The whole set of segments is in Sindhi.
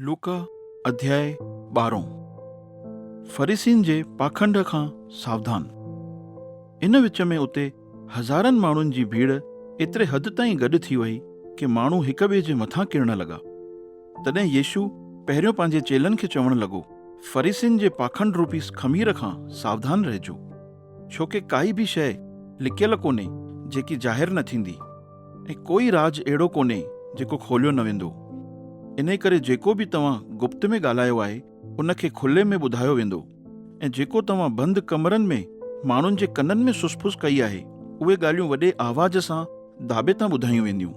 لوڪا اڌياء ٻارهون، فريسين جي پاکنڊ کان ساوڌان. ان وچ ۾ اتي هزارن ماڻهن جي ڀيڙ ايتري حد تائين گڏ ٿي وئي ڪي ماڻهو هڪ ٻئي جي مٿان ڪرڻ لڳا. تڏهن يسوع پهريون پنهنجي چيلن کي چوڻ لڳو، فريسين جي پاکنڊ روپي خمير کان ساوڌان رهجو، ڇوڪي ڪائي به شيء لڪيل ڪونهي جيڪي ظاهر نه ٿيندي. ۽ ڪوئي راز اهڙو ڪونهي جيڪو کوليو نه ويندو. انهي ڪري جيڪو به توهان گپت ۾ ڳالهايو آهي ان کي کلي ۾ ٻڌايو ويندو ۽ جيڪو توهان بند ڪمرن ۾ ماڻهن جي ڪنن ۾ سس ڦس ڪئي آهي اهي ڳالهيون وڏي آواز سان داٻي تان ٻڌايون وينديون.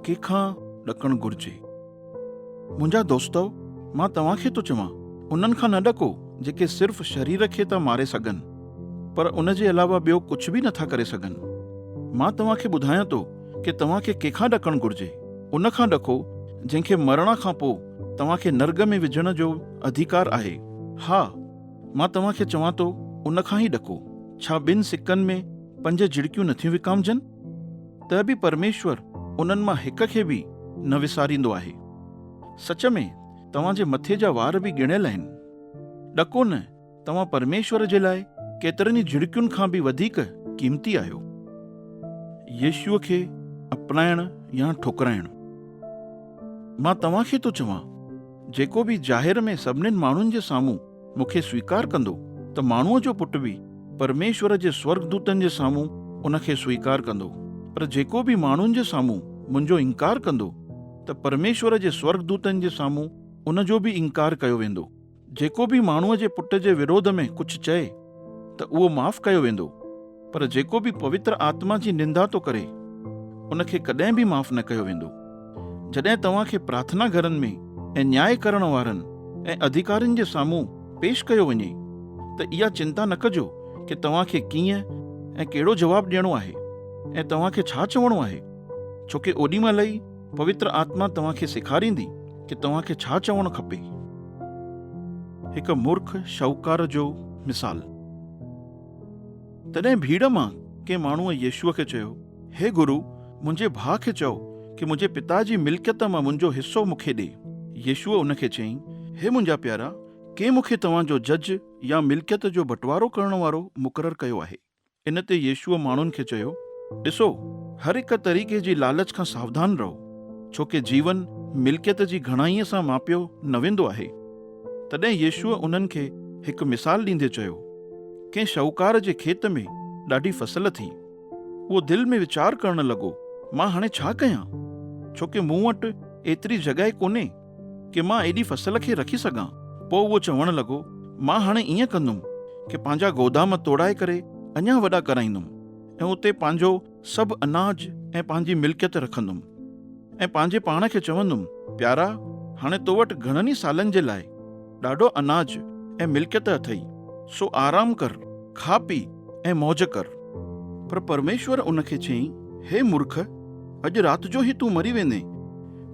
ڪنهن کان ڏڪڻ گهرجي؟ منهنجا دوستؤ! مان توهان کي ٿو چوان، انهن کان نه ڏڪو، جيڪي صرف شرير کي ٿا ماري سگهن، پر ان جي علاوه ٻيو ڪجهه به نٿا ڪري سگهن. مان توهان کي ٻڌايان ٿو ڪي توهان کي ڪنهن کان ڏڪڻ گهرجي، ان کان ڏڪو، جنهن کي مرڻ کان پوء توهان کي نرڳ ۾ وجهڻ جو اڌيڪار آهي. ها! مان توهان کي چوان ٿو، ان کان ئي ڏڪو. ڇا ٻن سڪن ۾ پنج جهڙڪيون نٿيون وڪامجن؟ ته به پرميشور انهن مان هڪ کي به نه وساريندو آهي. سچ ۾ توهان جي مٿي جا وار به ڳڻيل آهن. ڏکو نه، توهان پرميشور جي لاء ڪيترن ئي جهڙڪين کان به وڌيڪ قيمتي آهيو. يسوع کي اپنائڻ يا ٺڪرائڻ. مان توهان کي ٿو چوان، جيڪو به ظاهر ۾ سڀني ماڻهن جي سامهون مون کي سويڪار ڪندو ته ماڻهوء جو پٽ به پرميشور جي سورڳدوتن جي سامهون ان کي سويڪار ڪندو، پر جيڪو به ماڻهن جي سامهون منهنجو انڪار ڪندو ته پرميشور جي سورڳدوتن جي سامهون ان جو به انڪار ڪيو ويندو. جيڪو به ماڻهوء جي پٽ جي وروڌ ۾ ڪجهه چئي ته اهو معاف ڪيو ويندو. پر جيڪو به پوتر آتما جي نندا ٿو ڪري، ان کي ڪڏهن به معاف نه ڪيو ويندو. جڏهن توهان کي پرارٿنا گهرن ۾ ۽ نياء ڪرڻ وارن ۽ اڌيڪارين جي سامهون پيش ڪيو وڃي، ته اها چنتا نه ڪجو ڪي توهان کي ڪيئن ۽ ڪهڙو جواب ڏيڻو آهي ۽ توهان کي ڇا چوڻو آهي، ڇو ڪي اوڏي مهل ئي پوتر آتما توهان کي سيکاريندي ڪي توهان کي ڇا چوڻ کپي. هڪ مورک شاهوڪار جو مثال. تڏهن ڀيڙ مان ڪنهن ماڻهوء يسوع کي چيو، هي گرو، منهنجي ڀاء کي چئو ڪي منهنجي پتا جي ملڪيت مان منهنجو حصو مون کي ڏي. يسوع ان کي چيائين، هي منهنجا پيارا، ڪنهن مون کي توهان جو جج يا ملڪيت جو بٽوارو ڪرڻ وارو مقرر ڪيو آهي؟ ان تي يسوع ماڻهن کي چيو، ڏسو، هر هڪ طريقي جي لالچ کان ساوڌان رهو، ڇو ڪي جيون ملڪيت جي گهڻائيء سان ماپيو نه ويندو آهي. تڏهن يسوع انهن کي هڪ مثال ڏيندي چيو، ڪنهن شاهوڪار جي کيت ۾ ڏاڍي فصل ٿي. اهو دل ۾ ويچار ڪرڻ لڳو، مان هاڻي ڇا ڪيان؟ ڇو ڪه مون وٽ ايتري جڳهه ڪونهي ڪه مان ايڏي فصل کي رکي سگهان. پوء اهو چوڻ لڳو، مان هاڻي ائين ڪندم ڪه پنهنجا گودام توڙائي ڪري اڃا وڏا ڪرائيندم ۽ اتي پنهنجو. سڀ اناج ۽ پنهنجي ملڪيت رکندم ۽ پنهنجي پاڻ کي چوندم، پيارا، هاڻي تو وٽ گهڻن ئي سالن جي لاء ڏاڍو اناج ۽ ملڪيت اٿئي، سو آرام ڪر، کاء پيء ۽ موج ڪر. پر پرميشور ان کي چيائين، هي مورک، اڄ رات جو ئي تون مري ويندين،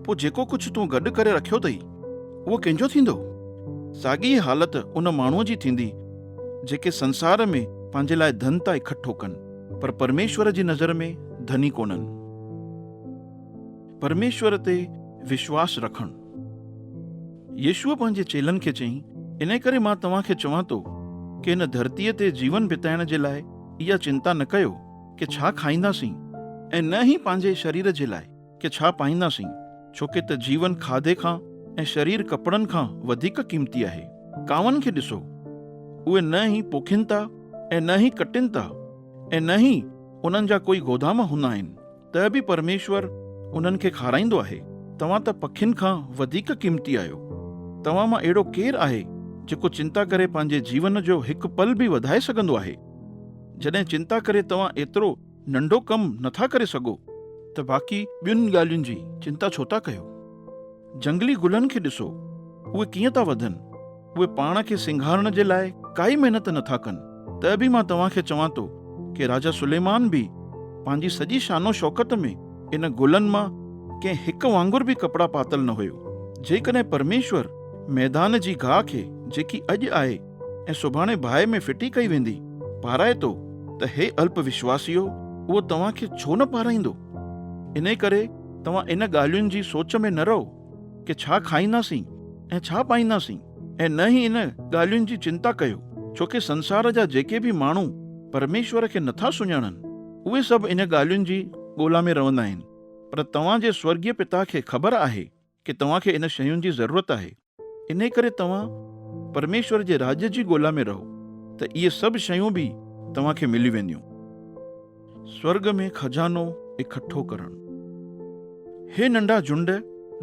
پوء جيڪو ڪجهه تون گڏ ڪري رکيو اٿئي، اهو ڪنهن جو ٿيندو؟ ساڳي ئي حالت ان ماڻهوء جي ٿيندي، جيڪي سنسار ۾ پنهنجي لاء ڌن ٿا اڪٺو ڪن. پر پرميشور جي نظر ۾ ڌني ڪونهن. پرميشور تي وشواس رکڻ. يسوع پنهنجي چيلن کي چيائين، انهي ڪري مان توهان کي چوان ٿو ڪي هن ڌرتيء تي جيون بتائڻ جي لاء اها چنتا نه ڪيو ڪي ڇا کائينداسين ۽ نه ئي پنهنجي شرير جي لاء، ڪي ڇا پائينداسين، ڇوڪي ته جيون کاڌي کان ۽ شرير ڪپڙن کان وڌيڪ قيمتي آهي. ڪاون کي ڏسو، اهي نه ئي پوکين ٿا ۽ نه ئي ڪٽين ٿا ۽ نه ئي انهن جا ڪوئي گودام هوندا آهن، ته به پرميشور انهن کي کارائيندو آهي. توهان ته پکين کان وڌيڪ قيمتي آهيو. توهان مان اهڙو ڪير آهي، جيڪو چنتا ڪري پنهنجي جيون جو هڪ پل به وڌائي سگهندو آهي؟ جڏهن چنتا ڪري توهان ايترو ننڍو ڪم نه ٿا ڪري سگهو ته باقي ٻين ڳالهين جي چنتا ڇو ٿا ڪيو؟ جهنگلي گلن کي ڏسو، اهي ڪيئن ٿا وڌن، اهي پاڻ کي سينگارڻ جي لاء ڪائي محنت نه ٿا ڪن، ته به مان توهان کي چوان ٿو ڪي راجا سليمان به پنهنجي سڄي شان و شوڪت ۾ ان گلن مان ڪنهن هڪ وانگر به ڪپڙا پاتل نه هيو. جيڪڏهن پرميشور ميدان جي گاهه کي جيڪي اڄ آهي، ۽ سڀاڻي باهه ۾ ڦٽي ڪئي ويندي، پارائتو ته هي الپ وشواسيو اهو توهان کي ڇو نه پارائيندو؟ انهي ڪري توهان ان ڳالهين جي سوچ ۾ نه رهو ڪي ڇا کائينداسين ۽ ڇا پائينداسين ۽ نه ئي ان ڳالهين جي چنتا ڪيو، ڇو ڪي سنسار جا جيڪي به ماڻهو پرميشور کي نٿا سڃاڻن، اهي سڀ ان ڳالهين جي ڳولا ۾ روندا آهن، پر توهان جي سورڳيه پتا کي خبر آهي، ڪي توهان کي ان شين جي ضرورت آهي انهي ڪري توهان پرميشور جي راڄ جي ڳولا ۾ رهو ته اهي سڀ شيون به توهان کي ملي وينديون. سورڳ ۾ خزانو اڪٺو ڪرڻ. هي ننڍا جهنڊ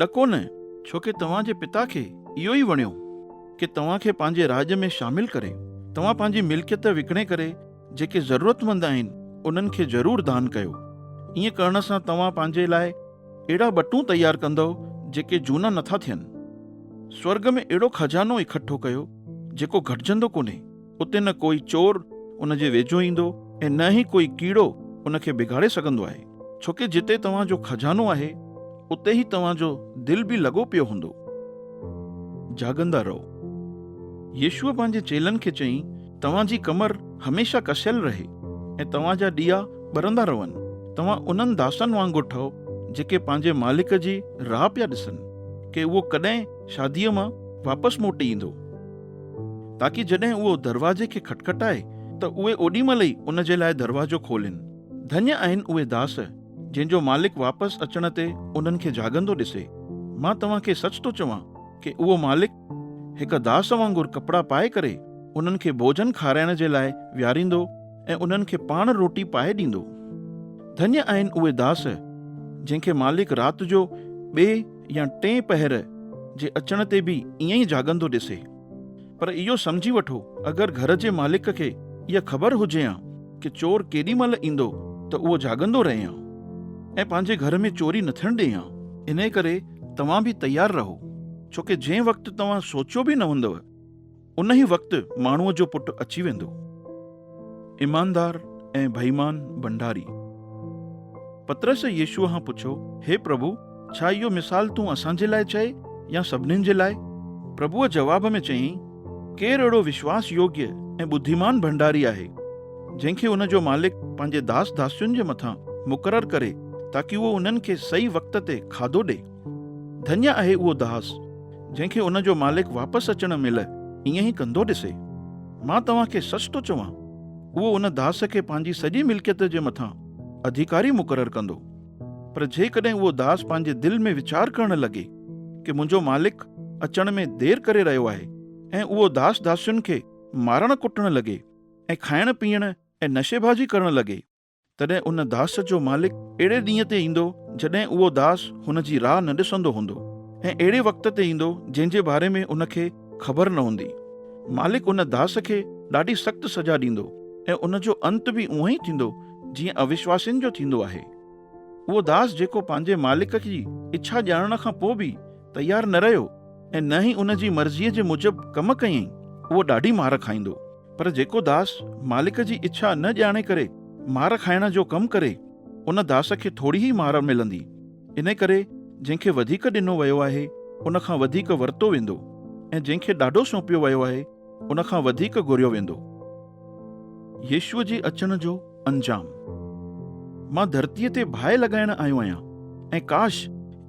ڏڪو نه ڇوڪي توهان جي پتا کي اهو ئي وڻيو ڪي توهان کي پنهنجي راڄ ۾ شامل ڪري توهان پنهنجي ملڪيت وڪڻي ڪري جيڪي ضرورتمند آهن، انهن کي ضرور دان ڪيو. ائين ڪرڻ سان توهان پنهنجي لاء اهڙا ٻٽون تيار ڪندؤ، جيڪي جهونا نه ٿا ٿين. سورڳ ۾ اهڙو خزانو اڪٺو ڪيو، جيڪو گهٽجندو ڪونهي. اتي نه ڪوئي چور ان جي ويجهو ايندو ۽ نه ئي ڪوئي ڪيڙو ان کي بگاڙي سگهندو آهي. ڇو ڪي جتي توهان جو خزانو آهي اتي هي توهان جو دل به لڳو پيو هوندو. جاڳندا رهو. يسوع پنهنجي چيلن کي چئي توهان جي ڪمر هميشه ڪسيل رهي ۽ توهان جا ڏيئا ٻرندا رهن. توهان انهن داسن وانگر ٺهو جيڪي پنهنجي مالڪ جي راهه پيا ڏسن ڪي اهو ڪڏهن شاديء مان واپس موٽي ايندو تاڪي جڏهن اهو دروازي کي کٽکٽائي ته اهي اوڏي مهل ئي ان جي لاء دروازو کولين. ڌنيء آهن اهي داس، جن جو مالڪ واپس اچڻ تي انهن کي جهاڳندو ڏسي. مان توهان کي سچ ٿو چوان ڪي اهو مالڪ هڪ داس وانگر ڪپڙا پائي ڪري انهن کي ڀوڄن کارائڻ جي لاء ويهاريندو ۽ انهن کي پاڻ روٽي پائي ڏيندو. ڌنيء آهن اهي داس، جنهن کي مالڪ رات جو ٻئي يا ٽئين پهر جي اچڻ تي به ائين ئي جهاڳندو ڏسي. پر اهو سمجهي وٺو اگر گهر جي مالڪ کي اها خبر هجي ها ڪه چور ڪيڏي مهل ايندو ته اهو جاڳندو رهي ها ۽ پنهنجي گهر ۾ چوري نه ٿيڻ ڏئي ها. انهيء ڪري توهان به تيار رهو ڇو ڪه جنهن وقت توهان سوچيو به نه هوندؤ انهيء وقت ماڻهوء جو پٽ اچي ويندو. ايماندار ۽ بيمان ڀنڊاري. پطرس يسوع کان پڇيو، هي پرڀو، ڇا اهو مثال تون اسان جي لاء چئي يا سڀنين جي لاء؟ پرڀوء جواب ۾ چيائين، ڪير اهڙو وشواس يوگيه ۽ ٻڌيمان ڀنڊاري آهي، جنهن کي ان جو مالڪ پنهنجي داس داسين جي مٿان مقرر ڪري تاڪي اهو انهن کي صحيح وقت تي کاڌو ڏئي. ڌنيا آهي اهو داس، جنهن کي ان جو مالڪ واپس اچڻ مهل ائين ئي ڪندو ڏسي. مان توهان کي سچ ٿو چوان، اهو ان داس کي پنهنجي سڄي ملڪيت جي مٿان اڌيڪاري مقرر ڪندو. پر جيڪڏهن اهو داس پنهنجي دل ۾ ويچار ڪرڻ لڳي ڪي منهنجو مالڪ اچڻ ۾ دير ڪري رهيو آهي ۽ اهو داس داسين کي مارڻ ڪٽڻ لڳي ۽ کائڻ پيئڻ ۽ نشيبازي ڪرڻ لڳي، تڏهن ان داس جو مالڪ اهڙي ڏينهن تي ايندو جڏهن اهو داس هن جي راهه نه ڏسندو هوندو ۽ اهڙي وقت تي ايندو جنهن جي باري ۾ ان کي خبر نه هوندي. مالڪ ان داس کي ڏاڍي سخت سزا ڏيندو ۽ ان جو انت به اونهي ئي ٿيندو جيئن اوشواسين جو ٿيندو آهي. اهو داس جيڪو پنهنجي مالڪ جي اڇا ڄاڻڻ کان پوء به تيار نه رهيو ۽ نه ئي ان جي مرضيء جي موجب ڪم ڪيائين، اهو ڏاڍي مار کائيندو. پر جيڪو داس مالڪ جي اڇا نه ڄاڻي ڪري مار کائڻ جو ڪم ڪري، ان داس کي ٿوري ئي مار ملندي. انهي ڪري جنهن کي وڌيڪ ڏنو ويو آهي، ان کان وڌيڪ ورتو ويندو ۽ جنهن کي ڏاڍو سونپيو ويو آهي، ان کان وڌيڪ گهريو ويندو. يسوع جي اچڻ جو انجام، مان ڌرتيء تي باهه لڳائڻ آيو آهيان ۽ ڪاش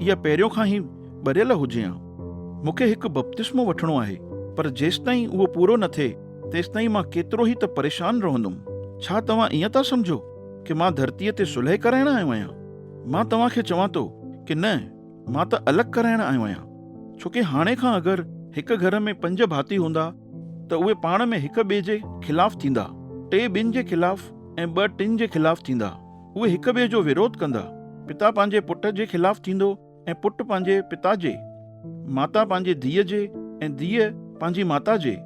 اها پهريون کان ئي ٻريل هجي ها. مون کي هڪ بپتسمو وٺڻو آهي، پر جيستائين اهو پورو نه ٿئي، تيستائين مان ڪيترو ئي ته پريشان رهندم. ڇا توهان ائين ٿا سمجهو ڪه مان ڌرتيء تي صلح ڪرائڻ آيو آهيان؟ مان توهان کي چوان ٿو ڪه نه، مان ته الڳ ڪرائڻ آيو آهيان. ڇو ڪه هاڻي کان اگر هڪ گهر ۾ پنج ڀاتي هوندا، ته اهي پاڻ ۾ هڪ ٻئي جي خلاف ٿيندا، ٽي ٻن جي خلاف ۽ ٻه ٽن جي خلاف ٿيندا. اهي هڪ ٻئي جو وروڌ ڪندا. پتا پنهنجي پٽ جي خلاف ٿيندو ۽ پٽ پنهنجي پتا جي. ماتا پنهنجي ڌيء جي ۽ ڌيء پنهنجي ماتا جي.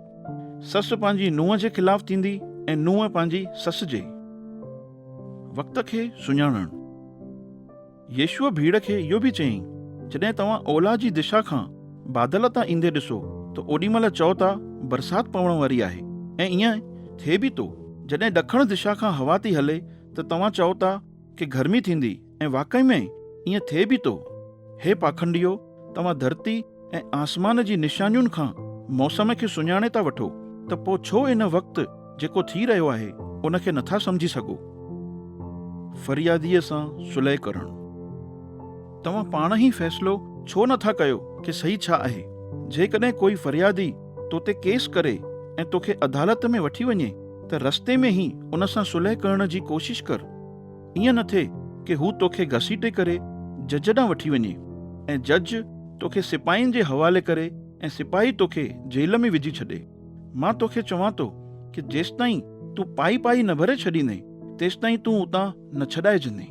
سس پنهنجي نونهن جي خلاف ٿيندي ۽ نونهن پنهنجي سس جي. وقت کي سڃاڻڻ. يسوع ڀيڙ کي اهو به چيائين، جڏهن توهان اولهه جي دشا کان بادل تان ايندي ڏسو ته اوڏي مهل چئو ٿا، برسات پوڻ واري آهي ۽ ائين ٿئي به ٿو. جڏهن ڏکڻ دشا کان هوا ٿي هلي ته توهان چئو ٿا ڪي گرمي ٿيندي ۽ واقعي ۾ ائين ٿئي به ٿو. هي پاکنڊيو، توهان ڌرتي. ۽ آسمان جي نشانين کان موسم کي سڃاڻي ٿا وٺو ته پوء ڇو ان وقت جيڪو ٿي رهيو آهي ان کي نٿا سمجهي سگهو؟ فرياديء سان صلح ڪرڻ. توهان پاڻ هي فيصلو ڇو نٿا ڪيو ڪي صحيح ڇا آهي؟ جيڪڏهن ڪوئي فريادي تو تي ڪيس ڪري ۽ توکي عدالت ۾ وٺي وڃي ته رستي ۾ هي ان سان صلح ڪرڻ جي ڪوشش ڪر. ائين نه ٿئي ڪي هو توکي گهسيٽي ڪري جج ڏانهن وٺي وڃي ۽ جج توکي سپاهين جي حوالي ڪري ۽ سپاهي توکي جيل ۾ وجهي ڇڏي. مان توکي چوان ٿو ڪي جيستائين تون پائي پائي نه ڀري ڇڏيندين تيستائين تون اتان نه ڇڏائجندين.